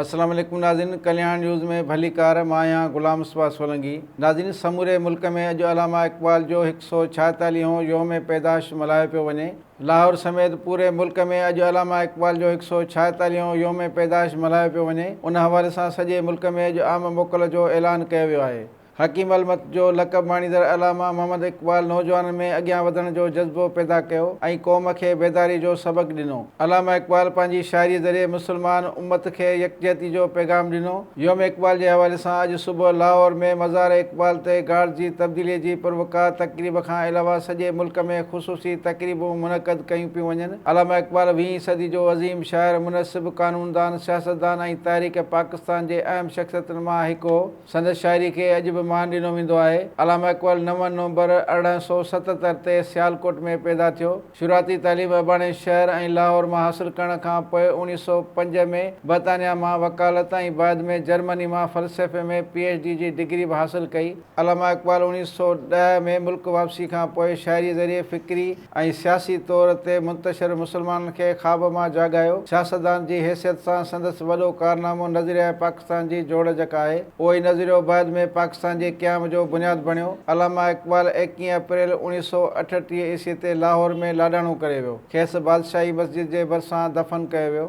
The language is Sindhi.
السلام عليڪم ناظرين ڪلياڻ نيوز ۾ ڀليڪار مان آهيان غلام مصباح سولنگي ناظرين سموري ملڪ ۾ اڄ علامه اقبال جو هڪ سئو ڇاهيتاليهون هون يوم پيدائش ملهايو پيو وڃي لاهور سميت پوري ملڪ ۾ اڄ علامه اقبال جو هڪ سئو ڇاهيتاليهون هون يوم پيدائش ملهايو پيو وڃي ان حوالي سان سڄي ملڪ ۾ اڄ عام موڪل جو اعلان ڪيو ويو آهي حڪيم المت جو لقب ماڻيندڙ علامه محمد اقبال نوجوانن ۾ اڳيان وڌڻ جو جذبو پيدا ڪيو ۽ قوم کي بيداري جو سبق ڏنو. علامه اقبال پنهنجي شاعري ذريعي مسلمان امت کي يڪجهتي جو پيغام ڏنو. يوم اقبال جي حوالي سان اڄ صبح لاهور ۾ مزار اقبال تي گارڊز جي تبديلي جي پروقار تقريب کان علاوه سڄي ملڪ ۾ خصوصي تقريبون منعقد ڪيون پيون وڃن. علامه اقبال ويهين صدي جو عظيم شاعر، منصف، قانوندان، سياستدان ۽ تحريڪ پاڪستان جي اهم شخصيتن مان هڪ هو. سندس شاعري کي اڄ به مان ڏنو ويندو آهي. علامه اقبال نو نومبر ارڙهن سؤ ستتر تي سيالڪوٽ ۾ پيدا ٿيو. شروعاتي تعليم اباڻي شهر ۽ لاهور مان حاصل ڪرڻ کان پوء اوڻيهه سؤ پنج ۾ برطانيا مان وڪالت ۽ بعد ۾ جرمني مان فلسفي ۾ پي ايڇ ڊي جي ڊگري به حاصل ڪئي. علامه اقبال اوڻيهه سؤ ڏهه ۾ ملڪ واپسي کان پوء شاعري ذريعي فڪري، ۽ سياسي طور تي منتشر مسلمانن کي خواب مان جاڳايو. سياستدان جي حيثيت سان سندس وڏو ڪارنامو نظريه پاڪستان جي جوڙجڪ آهي. اهو ئي نظريو بعد ۾ پاڪستان جي قيام جو بنياد بڻيو. علامه اقبال ايڪيهين اپريل اوڻيهه سؤ اٺٽيهه عيسوي تي لاهور ۾ لاڏاڻو ڪري ويو. کيس بادشاهي مسجد جي ڀرسان دفن ڪيو ويو.